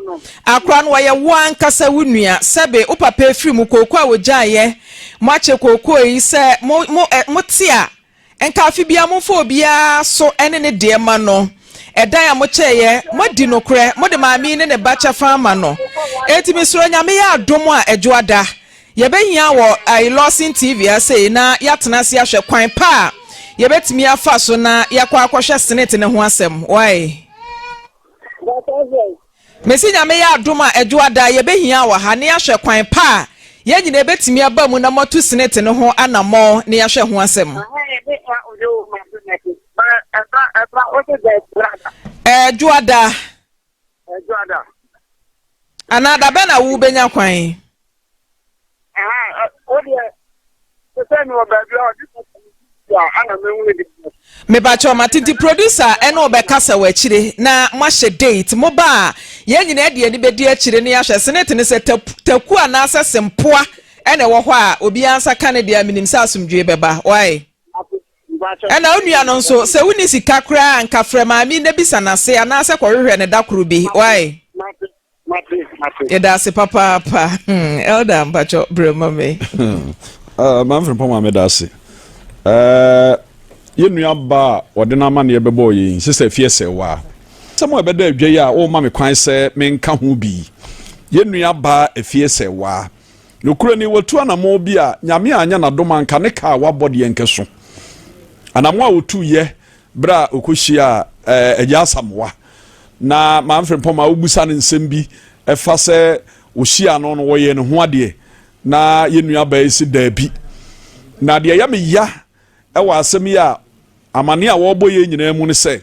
akora no wɔyɛ wo ankasa wo nua, sɛbe wo papa afiri mu kooko a wɔgyaeɛ, moakyɛ kooko yi sɛ mo, mo, ɛ, mote a, nka afe biara momfa obiara so ne ne deɛ ma no. Ɛdan a mokyɛeɛ, moadi nokorɛ, mode maame yi ne ne ba kyɛfa ama no. Enti mesrɛ Onyame yɛ adom a ɛdwo ada, Yɛbɛhia wɔ I Lawson TV ha sei na yɛatena ase ahwɛ kwan pa a yɛbɛtumi afa so na yɛakɔ akɔhwɛ senate no ho asɛm. Wae? Mesi Nyame yɛ adom a ɛdwo ada yɛbɛhia wɔ ha na yɛahwɛ kwan pa a yɛn nyinaa yɛbɛtumi aba mu na moatu senate no ho anammɔn na yɛahwɛ ho asɛm. Ɛɛ, Dwoada. Ɛdwo ada. Anaa da bɛn na wobɛnya kwan? mebakyɛ ɔma titi producer ɛne ɔbɛkasa wɔ akyire na moahyɛ date mo ba a yɛn nyinaa de ani bɛdi akyire ne ahwɛ senate ne sɛ taku anaasɛ sempoa ɛna ɛwɔ hɔ a obiara nsa ka ne deɛ menim sɛ asomdwoe bɛba wae Ɛna wo nua no nso sɛ wonni sika koraa a nka frɛ maame na bisa no ase anaasɛ kɔhwehwɛ no da koro bi wai. Yɛda ase papaapa hmm, Elder mpakyɛ berɛ ma me. Ah, Mamfrempɔn ma meda ase. Eh, yɛn nua ba a ɔde n'amanneɛ bɛbɔɔ yɛn sɛ sɛ fie sɛ waa. Sɛm a ɛbɛda adwa yi a wɔma me kwan sɛ menka ho bi. Yɛn nua ba afie sɛ waa. Nokorɛ ni, watu anamɔn bi a Nyame annyɛ n'adom anka ne kaa a wabɔ deɛ nkɛso anamɔn a otuiɛ berɛ a okɔhyiaa Agya Asamoah na Maame Frimpong maa wobusaa no nsɛm bi ɛfa sɛ ohyiaa no no wɔyɛɛ ne ho adeɛ na yɛn nuabaa yi se daabi. Na deɛ ɛyɛ me ya ɛwɔ asɛm yi a amaneɛ a wɔrebɔ yɛn nyinaa mu ne sɛ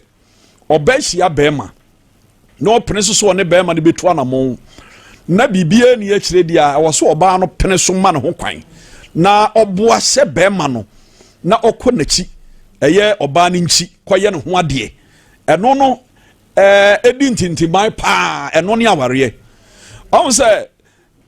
ɔbaa hyia bɛɛma. na ɔpene so sɛ ɔne bɛrima no bɛtu anammɔn na biribiara ni akyire deɛ a ɛwɔ so ɔbaa no pene so ma ne ho kwan na ɔboa sɛ bɛrima no na ɔkɔ n'akyi ɛyɛ ɔbaa no nkyi kɔyɛ ne ho adeɛ ɛno no ɛɛ ɛdi ntintiman paa ɛno ne awareɛ ɔn sɛ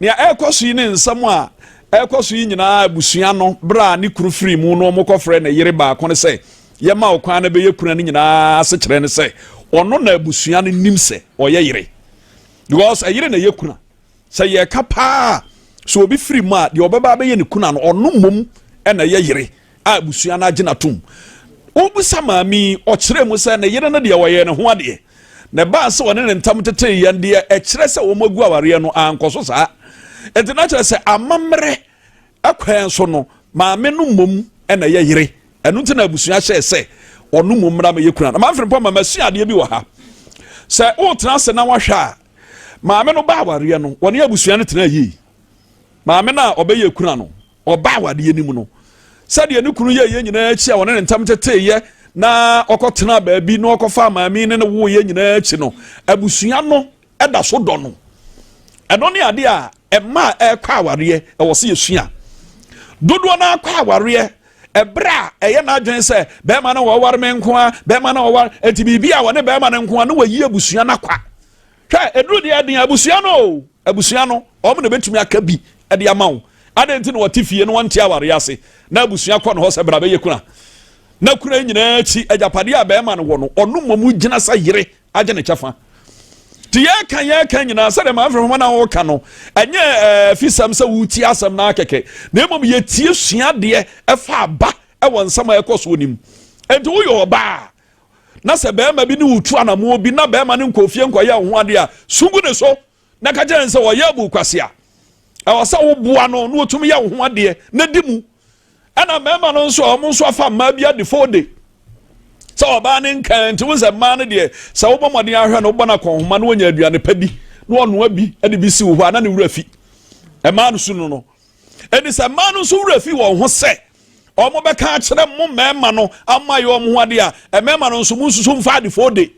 Nea ɛrekɔ so yi ne nsɛm a ɛrekɔ so yi nyinaa abusua no bere a ne kunu firi mu no wɔkɔfrɛɛ ne yere baako no sɛ yɛma wo kwan na bɛyɛ kunu a ne nyinaa asekyerɛ ne sɛ ɔno na abusua no nim sɛ ɔyɛ yere because ɛyere na ɛyɛ kunu a sɛ yɛka paa sɛ obi firi mu a deɛ ɔbɛba abɛyɛ ne kunu a no ɔno mmom na ɛyɛ yere a abusua no agye no atom. Wobisa maame yi, ɔkyerɛɛ mu sɛ ne yere no deɛ wɔyɛɛ ne ho adeɛ, na ɛbaa sɛ wɔne ne ntam tetee yɛn deɛ ɛkyerɛ sɛ wɔn agu awareɛ no ankɔ so saa. Ɛnti na kyerɛ sɛ amammerɛ ɛkwan so no maame no mmom ɛna ɛyɛ yere. Ɛno nti na abusua hyɛɛ sɛ ɔno mmom mmra mɛyɛ kuna. Na mamfiri mpɔ ma masua adeɛ bi wɔ ha. Sɛ wotena ase na wahwɛ a maame no ba awareɛ no wɔne abusua no tena yie. Maame no a ɔbɛyɛ kuna no Ɔbaa awadeɛ no mu no, sɛdeɛ ne kunu yɛeɛ nyinaa akyi a ɔne ne ntam teteeɛ na ɔkɔtenaa baabi na ɔkɔfaa maame ne ne woeɛ nyinaa akyi no, abusua no da so dɔ no. Ɛno ne adeɛ a ɛma a ɛrekɔ awareɛ ɛwɔ sɛ yɛsua. Dodoɔ no ara kɔ awareɛ ɛberɛ a ɛyɛ n'adwene sɛ bɛrima no wɔware me nko a bɛrima no wɔware ɛnti biribi a wɔne bɛrima no nko a na wɔyi abusua no akwa. Hwɛ, aduru deɛ ɛden abusua no o, abusua no, wɔn na ɛbɛtumi aka bi de ama wo. Adɛn nti na wɔte fie no wɔnte awareɛ ase na abusua kɔ no hɔ sɛ bra bɛyɛ kuna? Na kuna nyinaa akyi agyapadeɛ a bɛrima no wɔ no, ɔno mmom gyina sɛ yere agye ne kyɛfa. Nti yɛka yɛka nyinaa sɛdeɛ ma mfrɛ homa no a wɔka no, ɛnyɛ eh, afisɛm sɛ wotie asɛm no akɛkɛ, na mmom yɛtie suadeɛ ɛfa aba ɛwɔ nsɛm a ɛkɔ soɔ no mu. Enti woyɛ ɔbaa na sɛ barima bi ne wo tu anamoɔ bi na barima no nkɔ fie nkɔyɛ wo ho adeɛ a sungu ne so na ka kyerɛ ne sɛ ɔyɛ abu kwase a ɛwɔ sɛ woboa no na wɔtumi yɛ wo ho adeɛ na di mu ɛna mmarima no nso a wɔn nso afa mmaa bi adefo de sɛ ɔbaa ne nkan nti wo sɛ mmaa no deɛ sɛ wobɔ mmɔden ahwɛ no wobɔ no akɔnhoma na wɔnya aduane pa bi na ɔnoa bi de bi si wo hɔ a na ne wura fi ɛmaa no su no no Enti sɛ mmaa no nso werɛ fi wɔn ho sɛ wɔbɛka akyerɛ mo mmarima no ama yɛ wɔn ho ade a, mmarima no nso monsusu mfa adefo de.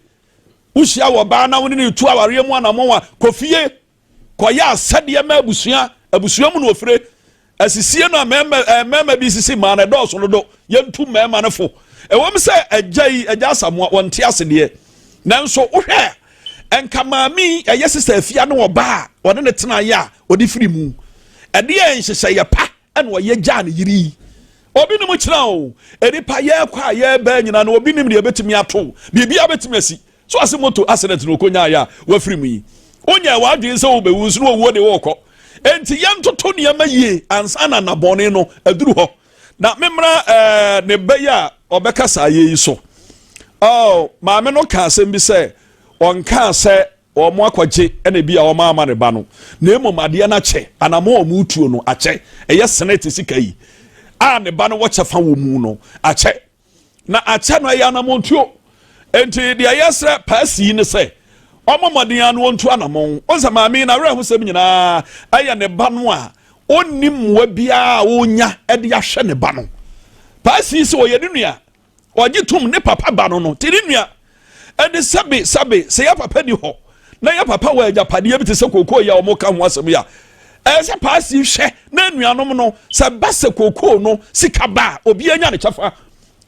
Wohyia wɔ baa na wo ne no retu awareɛ mu anammɔn a, kɔ fie kɔyɛ asɛdeɛ ma abusua, abusua mu na ofire. Asisie no a mmarima eh, mmarima bi sisi mmaa no ɛdɔɔso no do, yɛntu mmarima no fo. Ɛwom sɛ agya yi, agya Asamoa, wɔnte ase deɛ, nanso wohwɛ a Nka maame yi ɛyɛ sista afia ne ɔbaa a ɔne ne tenaeɛ a ɔde firi mu ɛdeɛ nhyehyɛeɛ pa ɛna ɔyɛ gyaa ne yere yi obi ne mu kyerɛ o nipa yɛrekɔ a yɛrebɛn nyinaa na obi nim deɛ ɛbɛtumi ato biribiara bɛtumi asi so ase moto accident na ɔkɔnyaeɛ a wafiri mu yi wonyɛ w'adwene sɛ wobɛwu nso na ɔwuo de wɔrekɔ enti yɛntoto nneɛma yie ansa na nnabɔne no aduru hɔ na memmra eh, ne ba yi a ɔbɛka saa yɛ yi so oh, maame no ka asɛm bi sɛ ɔnkaa sɛ wɔn akɔgye ɛna bi a wɔn ama ne ba no na mmom adeɛ no akyɛ anamɔ wɔn tuo no akyɛ ɛyɛ senate sika yi a ne ba no wɔkyɛ fa wɔ mu no akyɛ na akyɛ no ɛyɛ anamontuo nti deɛ yɛsrɛ paasi yi ne sɛ ɔmo mmɔden ano ɔntu anamon ɔsɛ maame na awerɛho sɛm nyinaa ɛyɛ ne ba no a ɔnni mmoa biara a ɔnya de ahwɛ ne ba no paasi sɛ ɔyɛ ne nua ɔgye tom ne papa ba no no te ne nua ɛne sɛbe sɛbe sɛ yɛ papa ni hɔ na yɛ papa wɔ agyapadeɛ bi te sɛ kookoo yi a wɔka ho asɛm yi a ɛyɛ sɛ paasi hwɛ na anuanom no sɛ ba sɛ kookoo no sika ba a obi anya ne kyɛfa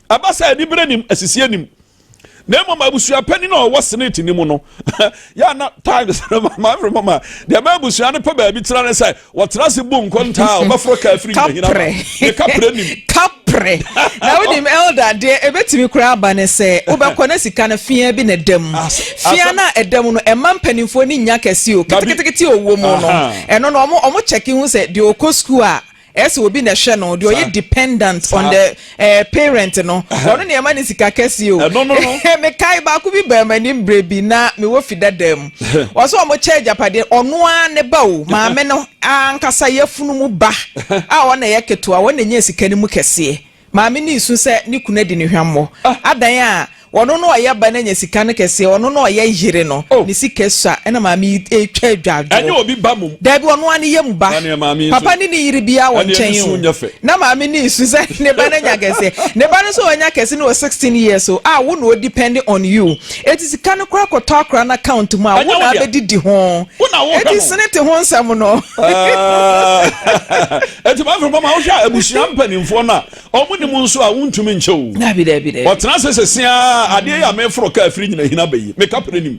ɛba sɛ anibere nim asisi anim na mmom abusua panyin a ɔwɔ senate ni mu no yɛ na times maame mama deɛ ɛma abusua no pɛ baabi tena ne sɛ Wɔtra ase bu nkontaa a wɔbɛforo ka afiri nhinahina ma. Ne kaprɛ nim. Kaprɛ. Na wonim elder deɛ ɛbɛtumi koraa aba ne sɛ wobɛkɔ na sika no feaa bi na ɛda mu. Feaa no a ɛda mu no ɛmma mpanimfoɔ no nnya kɛse o. Ketekete a ɔwɔ mu no ɛno no wɔn kyɛke hu sɛ deɛ ɔkɔ sukuu a ɛsɛ obi na ɛhwɛ no deɛ ɔyɛ dependent on the Eh parent no ɔno na ɛma ne sika kɛseɛ o ɛno no no mekae baako bi baa m'anim berɛ bi na mewɔ fi dadaa mu ɔsɛ ɔmo kyɛ agyapadeɛ ɔno ara ne ba o maame no ankasa yɛfunu mu ba a ɔna yɛ ketewa ɔna nya sika no mu kɛseɛ maame no resu sɛ ne kunu adi ne hwammɔ ah. adan a Ɔno na ɔyɛ ba no anya sika no kɛseɛ, ɔno na ɔyɛ yere no oh. ne sika sua ɛna maame yi ɛretwa adwadwoɔ. Ɛnyɛ obi ba mom. Daabi ɔno ara ne yɛ mu ba. Papa ne ne yere biara wɔ nkyɛn o. Na maame ne su sɛ ne ba no anya kɛseɛ. Ne ba no nso ɔnya kɛse no wɔ sixteen years o. A wo na o depend on you. Eti sika no koraa kɔtɔ akora no account mu a wo na abɛdidi ho. Eti sene te ho nsɛm no. Eti maame fɛ pama wohwɛ a abusua mpanimfoɔ no a Ɔmo nim nso a, wontumi nkyɛ o. Daabi, daabi, daabi. Ɔtena ase sese ara, adeɛ yi a meforo kaa firi nyina hina ba yi, me kapere nim.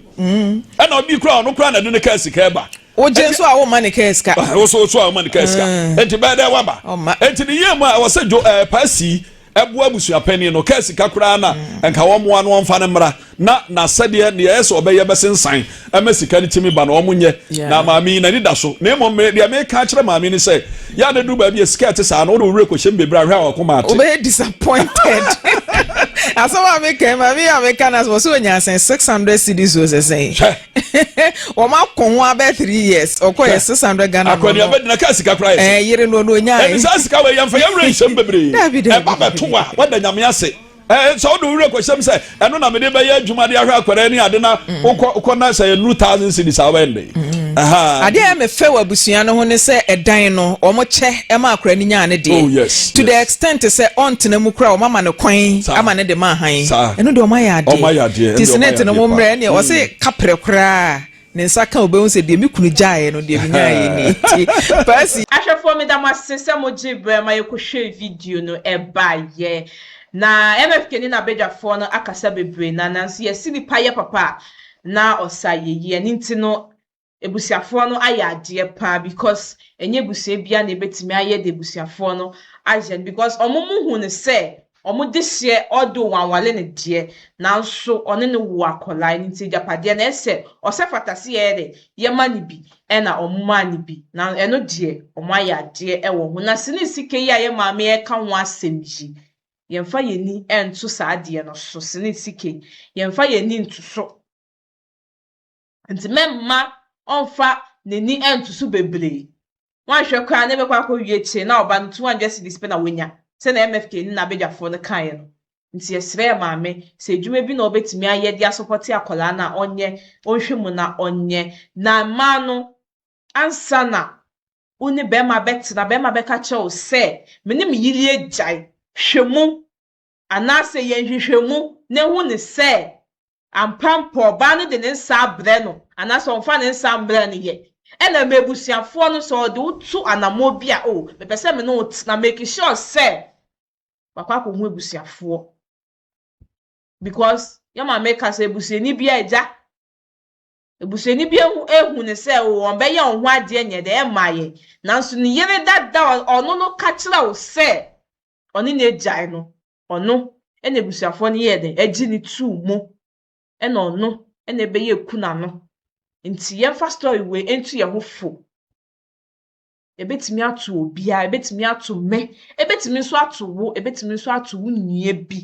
Ɛna ɔde kura, ɔno koraa na ɛde ne kaa sika ɛba. Wogye nso a, womma ne kaa sika. Wo so so a, womma ne kaa sika. Enti bɛyɛ dɛ waba. Ɔmma. Enti ne yie mu a, ɛwɔ sɛ Dwo ɛɛ Paa Sii ɛboa abusua panin no, kaa sika koraa na nka wɔmmoa no wɔmfa no mmra. na n'asɛdeɛ deɛ ɛyɛ sɛ ɔbɛyɛ bɛsensan ɛma sika no tumi ba no ɔmo nyɛ na maame yi n'ani da so na mmom me deɛ meka akyerɛ maame no sɛ yɛ a na duru baabi a sika ɛte saa no wode wo werɛ kɔhyɛ mu bebree ahwɛ a wakoma ate. wobɛyɛ disappointed asɛm a meka maame yi a meka no asɛ wɔ sɛ ɔnya sɛn 600 cedis o sɛ sɛn hwɛ wɔn ako ho abɛ 3 years ɔkɔ yɛ 600 Ghana no akɔni no abɛdina kaa sika koraa yɛ sɛ ɛɛ yere no no ɔnya ɛne saa sika wɔ yɛmfa yɛwerɛ nhyɛm bebree dabi dabi ɛba bɛto a wada nyame ase Sɛ wode wo werɛ kɔhyɛm sɛ ɛno na mede bɛyɛ adwuma de ahwɛ akwadaa ne ade na mm. wokɔ na sɛ ɛnuru thousand cities a wobɛyɛ no dɛn mm. adeɛ a mefɛ wɔ abusua no ho ne sɛ ɛdan no wɔkyɛ ma akwadaa no nyaa ne deɛ oh, to the extent sɛ ɔntena mu koraa wɔama no kwan ama ne de ma ahan ɛno deɛ wɔayɛ adeɛ nti senate no mo mmerɛ ɛneɛ ɔse mm. kaprɛ koraa Ne nsa ka a obehu sɛ deɛ me kunu gyaeɛ no, deɛ menyaeɛ ni. Enti Percy. Ahwɛfoɔ meda mo ase sɛ mo gyee berɛ ma yɛ kɔ hwɛɛ video no ɛbaeɛ. Na MFK ne n'abadwafoɔ no akasa bebree na nanso yɛ se nipa yɛ papa a na ɔsa yɛ yie ɛno nti no abusuafoɔ no ayɛ adeɛ paa because ɛnyɛ abusua biara na ɛbɛtumi ayɛ deɛ abusuafoɔ no ayɛ no because wɔn mo hu no sɛ Wɔn deseɛ ɔdoo wɔn awale no deɛ nanso ɔne no woo akwadaa ɛno nti agyapadeɛ no ɛsɛ ɔsɛ fata sɛ yɛyɛ dɛn yɛma no bi ɛna wɔn maa no bi na ɛno deɛ wɔn ayɛ adeɛ ɛwɔ ho na sene sika yi a yɛ maame ɛka ho asɛm yi yɛnfa yɛn ani ɛnto saa adeɛ no so sene sika yi yɛnfa yɛn ani nto so. Enti mɛmma ɔmfa n'ani nto so bebree. Wanhwɛ koraa na ɛbɛkɔ akɔwie akyire na ɔba no 200 cedis pɛ na wanya, sɛdeɛ MFK ne n'abadwafoɔ no kaeɛ no. Enti yɛsrɛɛ maame sɛ adwuma bi na ɔbɛtumi ayɛ de asɔpɔte akwadaa no a ɔnyɛ, ɔnhwɛ mu na ɔnyɛ. Na mmaa no, ansa na wo ne barima bɛtena, barima bɛka akyerɛ wo sɛ, me ne me yere agyae, hwɛ mu. Anaasɛ yɛ nhwehwɛmu na ehu no sɛ ampa mpo ɔbaa no de ne nsa abrɛ no anaasɛ ɔmfa ne nsa mmrɛ no yɛ. Ɛna ma abusuafoɔ no, sɛ ɔde wo to anammɔn bi a, oh, mepɛ sɛ me ne wo tena, make sure sɛ wakɔ akɔhu abusuafoɔ. Because, yɛ maame ka sɛ abusuani biara agya. Abusuani bi ehu, ehu no sɛ oh, ɔbɛyɛ wo ho adeɛ nyɛ dɛ, ɛmma yɛ. Nanso ne yere dada a ɔno no ka kyerɛ wo sɛ ɔne n'agyae no, ɔno na abusuafoɔ no yɛɛ dɛn? Ɛgye no too mu. Ɛna ɔno na ɛbɛyɛɛ kuna no. Nti yɛmfa story wei nto yɛn ho fo. Ɛbɛtumi ato obiara, ɛbɛtumi ato me, ɛbɛtumi nso ato wo, ɛbɛtumi nso ato wo nua bi.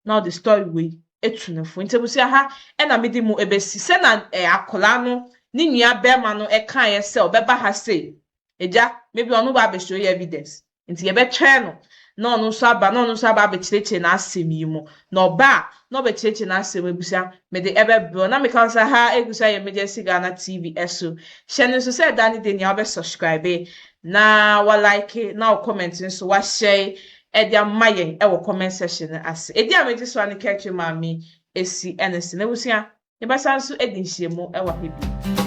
na ɔde story wei etu no fo. Ntsi ebusua ha na medze mu ebesi. Sɛ na eh akɔlaa no ne nua bɛrma no kaeɛ sɛ ɔbɛba ha sei. Egya, maybe ɔno ba abɛhyɛ oye evidence. Ntsi yɛbɛtwɛn no na ɔno nso aba na ɔno nso aba abɛkyerɛkyerɛ n'asɛm yi mu. Na ɔba a na ɔbɛkyerɛkyerɛ n'asɛm ebusua mede ɛbɛbrɛ wo. Na meka no sɛ ha ebusua yɛ Emergency Ghana TV so. Hyɛ no nso sɛ ɛda ne dɛ nyia ɔbɛ subscribe na wa like na wo comment nso wa share ɛde ama yɛn wɔ comment section no ase. Edin a megye so ara ne Kɛtwe Maame Esi Ernestine. Abusua, yɛbɛsan nso adi nhyiamu wɔ ha bio.